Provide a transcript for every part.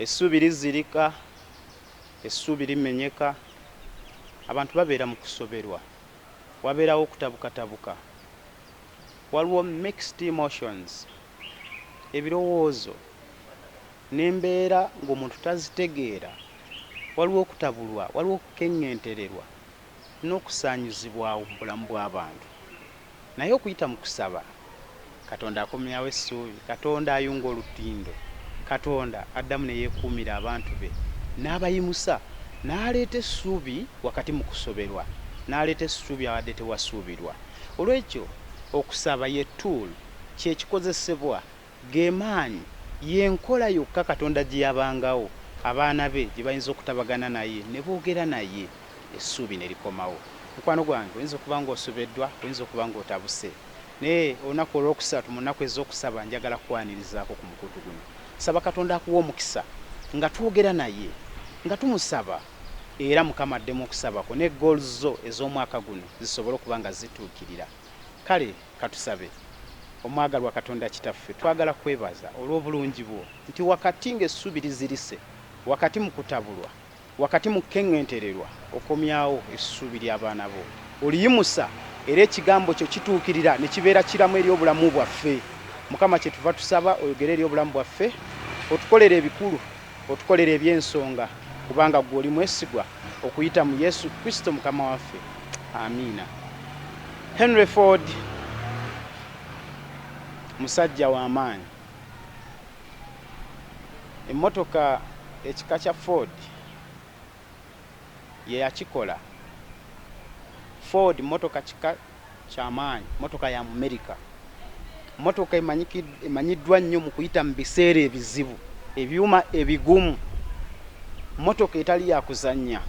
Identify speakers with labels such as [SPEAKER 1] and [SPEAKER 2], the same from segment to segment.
[SPEAKER 1] Essuubi lizirika, essuubi limenyeka, abantu babeera mu kusoberwa, wabeerawo okutabukatabuka, waliwo mixed emotions, ebirowoozo n'embeera ng'omuntu tazitegeera, waliwo okutabulwa, waliwo okukeŋŋentererwa. n'okusaanyuzibwawo mu bulamu bw'abantu. Naye okuyita mu kusaba, Katonda akomyawo essuubi. Katonda ayunga olutindo. Katonda addamu ne yeekuumira abantu be, n'abayimusa, n'aleeta essuubi wakati mu kusoberwa, n'aleeta essuubi awabadde tewasuubirwa. Olw'ekyo, okusaba ye tool, kye kikozesebwa. Ge maanyi, ye nkola yokka Katonda gye yabangawo abaana be gye bayinza okutabagana naye ne boogera naye, essuubi ne likomawo. Mukwano gwange, oyinza okuba ng'osobeddwa, oyinza okuba ng'otabuse. Naye olunaku olw'okusatu mu nnaku ez'okusaba njagala kukwanirizaako ku mukutu guno. Saba Katonda akuwe omukisa nga twogera naye, nga tumusaba era Mukama addemu okusaba kwo ne goals zo ez'omwaka guno zisobole okuba nga zituukirira. Kale. Katusabe. Omwagalwa Katonda Kitaffe, twagala kukwebaza olw'obulungi bwo, nti wakati ng'essubi lizirise, wakati mu kutabulwa, wakati mu kukeŋŋentererwa, okomyawo essuubi ly'abaana bo. Oliyimusa, era Ekigambo kyo kituukirira ne kibeera kiramu eri obulamu bwaffe. Mukama, kye tuva tusaba oyogere eri obulamu bwaffe, otukolere ebikulu Otukolera eby'ensonga kubanga ggwe oli mwesigwa okuyita mu Yesu Kristo Mukama waffe. Amiina. Henry Ford musajja wa maanyi. Emmotoka ekika kya Ford. yeyakikola. Ford mmotoka kika kya maanyi, mmotoka ya Mumerika, mmotoka emanyiddwa nnyo mu kuyita mu biseera ebizibu, ebyuma ebigumu, mmotoka etali ya kuzannya.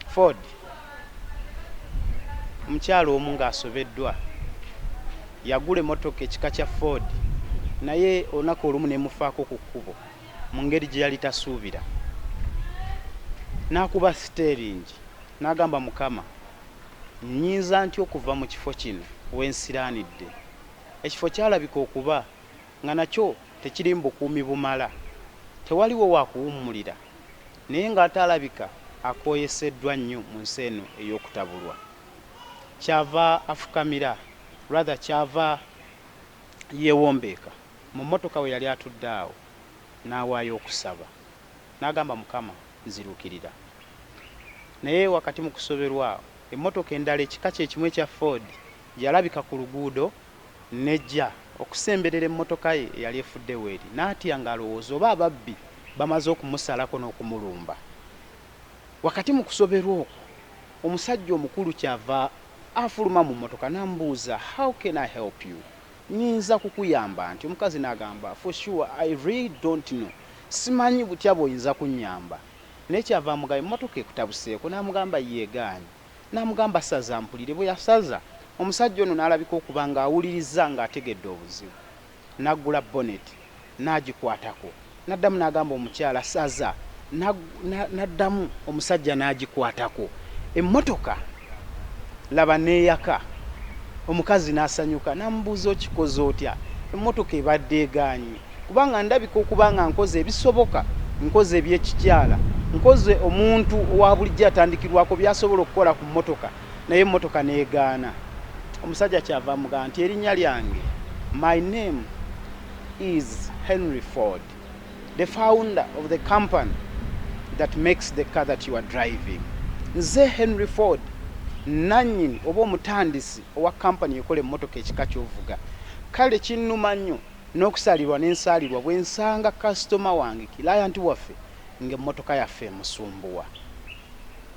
[SPEAKER 1] Ford. Omukyala omu ng'asobeddwa yagula emmotoka ekika kya Ford naye olunaku olumu n'emufaako ku kkubo. mu ngeri gye yali tasuubira, n'akuba siteeringi n'agamba, Mukama, nnyinza ntya okuva mu kifo kino we nsiraanidde? Ekifo kyalabika okuba nga nakyo tekirimu bukuumi bumala. Tewaliwo wa kuwummulira, naye ng'ate alabika akooyeseddwa nnyo mu nsi eno ey'okutabulwa. Ky'ava afukamira, rather, ky'ava. Yeewombeeka mu mmotoka we yali atudde awo n'awaayo okusaba. N'agamba, Mukama, nziruukirira. Naye wakati mu kusoberwa, emmotoka endala ekika kye kimu ekya Ford yalabika ku luguudo n'ejja okusemberera emmotoka ye eyali efudde w'eri. N'atya ng'alowooza oba ababbi bamaze okumusalako n'okumulumba. Wakati mu kusoberwa okwo, omusajja omukulu ky'ava. Afuluma mu mmotoka n'amubuuza, How can I help you? Nnyinza kukuyamba ntya? Omukazi n'agamba, For sure, I really don't know. Simanyi butya bw'oyinza kunnyamba. Naye kyava amugamba, Emmotoka ekutabuseeko? N'amugamba, Yeegaanyi. N'amugamba, Saza mpulire. Bwe yasaza, omusajja ono n'alabika okuba ng'awulirizza ng'ategedde obuzibu. N'aggula bonnet n'agikwatako. N'addamu n'agamba omukyala, Saza. Na, na, n'addamu omusajja n'agikwatako. Emmotoka, laba, n'eyaka. Omukazi n'asanyuka. N'amubuuza, Okikoze otya? Emmotoka ebadde egaanyi. Kubanga ndabika okuba nga nkoze ebisoboka, nkoze eby'ekikyala, nkoze omuntu owa bulijjo atandikirwako by'asobola okukola ku mmotoka. naye emmotoka n'egaana. Omusajja kyava amugamba nti erinnya lyange my name is Henry Ford the founder of the company that makes the car that you are driving nze Henry Ford nannyini oba omutandisi owa kampani ekola emmotoka ekika kyovuga kale kinnuma nnyo n'okusaalirwa n'ensaalirwa bwe nsanga kasitoma wange kilayanti waffe ng'emmotoka yaffe emusumbuwa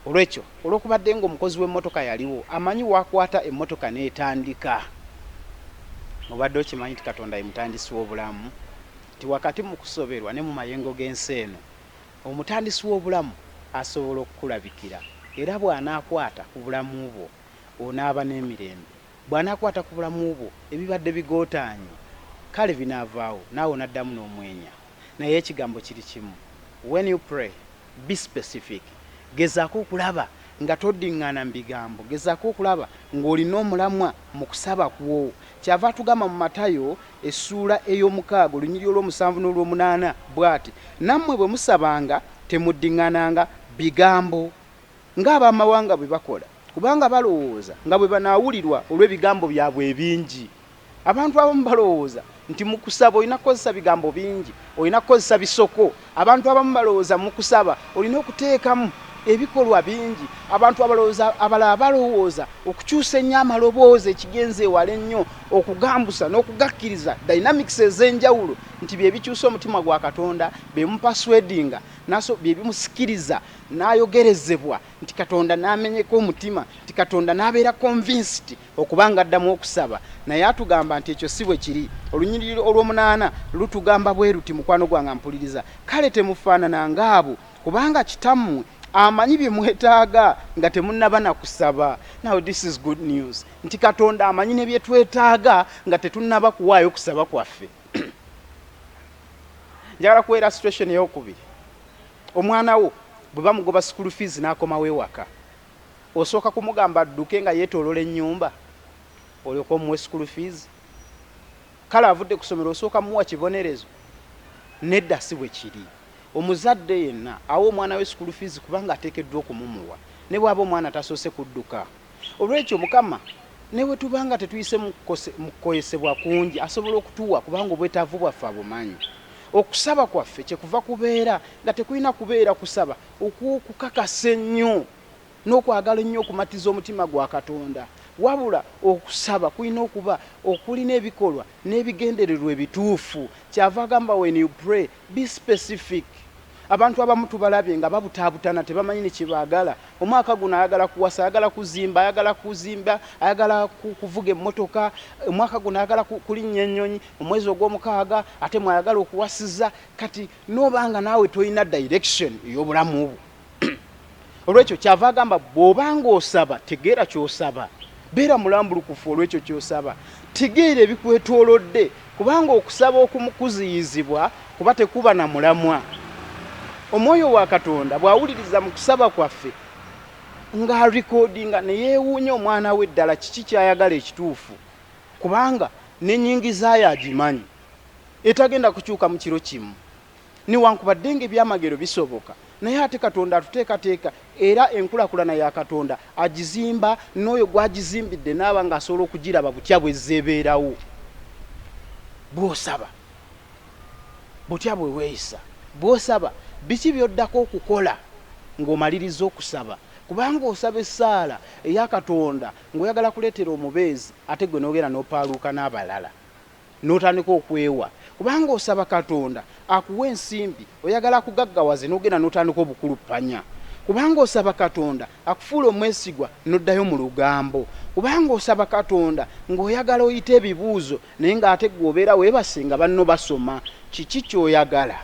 [SPEAKER 1] olwekyo Olw'okubadde ng'omukozi w'emmotoka yaliwo, amanyi w'akwata emmotoka n'etandika. Obadde okimanyi nti Katonda ye Mutandisi w'obulamu? Nti wakati mu kusoberwa ne mu mayengo g'ensi eno, Omutandisi w'obulamu asobola okukulabikira. Era bw'anaakwata ku bulamu bwo, onaaba n'emirembe. Bw'anaakwata ku bulamu bwo, ebibadde bigootaanye, kale binaavaawo, naawe onaddamu n'omwenya. Naye ekigambo kiri kimu, When you pray, Be specific. Gezaako okulaba nga toddingaana mu bigambo. Gezaako okulaba ng'olina omulamwa mu kusaba kwo. Kyava atugamba mu Matayo essuula ey'omukaaga olunyiriri olw'omusanvu n'olw'omunaana bw'ati, Nammwe bwe musabanga temuddingaananga bigambo ng'ab'amawanga bwe bakola, kubanga balowooza nga bwe banaawulirwa olw'ebigambo byabwe ebingi. Abantu abamu balowooza nti mu kusaba olina kukozesa bigambo bingi, olina kukozesa bisoko. Abantu abamu balowooza mu kusaba olina okuteekamu ebikolwa bingi. Abantu abalowooza abalala balowooza okukyusa ennyo amaloboozi ekigenze ewala ennyo, okugambusa n'okugakkiriza, dynamics ez'enjawulo, nti bye bikyusa omutima gwa Katonda, be bimupersuadinga, n'aso, bye bimusikiriza n'ayogerezebwa, nti Katonda n'amenyeka omutima, nti Katonda n'abeera convinced. Okuba nga addamu okusaba, naye atugamba nti ekyo si bwe kiri. Olunyiriri olw'omunaana lutugamba bwe luti, Mukwano gwange ampuliriza, kale temufaanana ng'abo, kubanga Kitammwe amanyi bye mwetaaga nga temunnaba na kusaba. Now this is good news, nti Katonda amanyi ne bye twetaaga nga tetunnaba kuwaayo kusaba kwaffe. Njagala kuwa illustration ey'okubiri. Omwana wo bwe bamugoba school fees n'akomawo ewaka, Osooka kumugamba adduke nga yetolola enyumba olyoke omuwe school fees? Kale avudde kusomero osooka muwa kibonerezo? Nedda sibwekiri. Omuzadde yenna awa omwana we school fees kubanga atekeddwa okumumuwa nebwaba omwana tasoose kudduka. Olwekyo Mukama newetuba nga tetuyise mukukoesebwa kungi asobola okutuwa kubanga obwetavu bwaffe abumanyi. Okusaba kwaffe kyekuva kubeera nga tekulina kubeera kusaba okw'okukakasa ennyo n'okwagala ennyo okumatiza omutima gwa Katonda, wabula okusaba kulina okuba okulina ebikolwa n'ebigendererwa ebituufu. Ky'ava agamba, When you pray, be specific. Abantu abamu tubalabye nga babutaabutana, tebamanyi ne kye baagala. Omwaka guno ayagala kuwasa, ayagala kuzimba, ayagala kuzimba, ayagala kuvuga emmotoka, omwaka guno ayagala kulinnya ennyonyi, omwezi ogw'omukaaga ate mw'ayagala okuwasiza. Kati noba nga naawe tolina direction eyobulamu bwo olwekyo kyava agamba bwoba nga osaba tegeera kyosaba beera mulambulukufu olwekyo kyosaba tegeera ebikwetolodde kubanga okusaba okumukuziyizibwa kuba tekuba na mulamwa omwoyo wa katonda bwawuliriza mu kusaba kwaffe nga recordinga neyewuunya omwana we ddala kiki kyayagala ekituufu kubanga nenyingizayo agimanyi etagenda kukyuka mu kiro kimu newankubadde nga ebyamagero bisoboka naye ate katonda atuteekateeka era enkulakulana ya katonda agizimba n'oyo gwagizimbidde naaba nga asobola okugiraba butya bwezza ebeerawo bwosaba butya bwe weeyisa bwosaba biki byoddako okukola ng'omaliriza okusaba kubanga osaba essaala eya katonda ng'oyagala kuleetera omubeezi ate gwe n'ogenda n'opaaluuka n'abalala notandika okwewa kubanga osaba katonda akuwe ensimbi oyagala akugaggawaze nogenda notandika obukuluppanya kubanga osaba katonda akufuule omwesigwa noddayo mu lugambo kubanga osaba katonda ng'oyagala oyite ebibuuzo naye ng'ate gwe obeera webase nga banno basoma kiki kyoyagala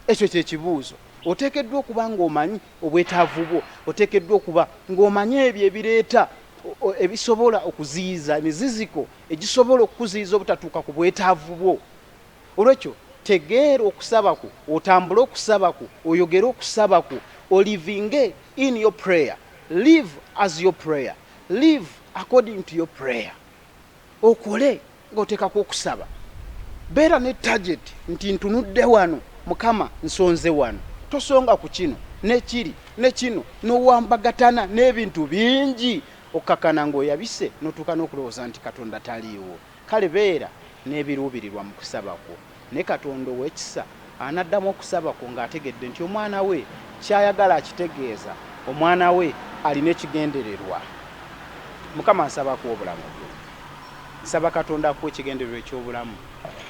[SPEAKER 1] ekyo kyekibuuzo oteekeddwa okuba ng'omanyi obwetaavu bwo oteekeddwa okuba ng'omanyi ebyo ebireeta ebisobola okuziyiza emiziziko egisobola okukuziyiza obutatuuka ku bwetaavu bwo. Olwekyo tegeera okusaba kwo, otambule okusaba kwo, oyogere okusaba kwo, olivinge in your prayer, live as your prayer, live according to your prayer. Okole nga oteekako okusaba. Beera ne target nti ntunudde wano Mukama nsonze wano. Tosonga ku kino, ne kiri, ne kino, n'owambagatana n'ebintu bingi Okkakkana ng'oyabise n'otuuka n'okulowooza nti Katonda taliiwo? Kale beera n'ebiruubirirwa mu kusaba kwo. Ne Katonda ow'ekisa anaddamu okusaba kwo ng'ategedde nti Omwana we ky'ayagala akitegeeza. Omwana we alina ekigendererwa. Mukama, nsaba akuwe obulamu bwe. Nsaba Katonda akuwe ekigendererwa eky'obulamu.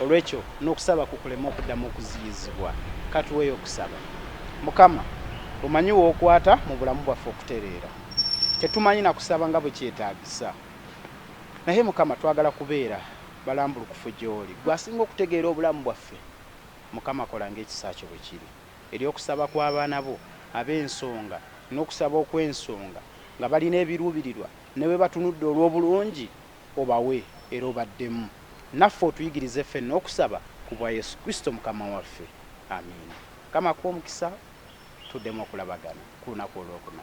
[SPEAKER 1] Olw'ekyo n'okusaba kwo kuleme okuddamu okuziyizibwa. Ka tuweeyo okusaba. Mukama, omanyi w'okwata mu bulamu bwaffe okutereera. Tetumanyi na kusaba nga bwe kyetaagisa. Naye, Mukama, twagala kubeera balambulukufu gy'Oli. Ggwe asinga okutegeera obulamu bwaffe. Mukama, kola nga ekisa Kyo bwe kiri eri okusaba kw'abaana Bo ab'ensonga, n'okusaba okw'ensonga, nga balina ebiruubirirwa, ne bwe batunudde olw'obulungi, obawe era obaddemu. Naffe otuyigirize ffenna okusaba, ku bwa Yesu Kristo Mukama waffe. Amiina. Mukama akuwe omukisa. tuddemu okulabagana ku lunaku olwokuna.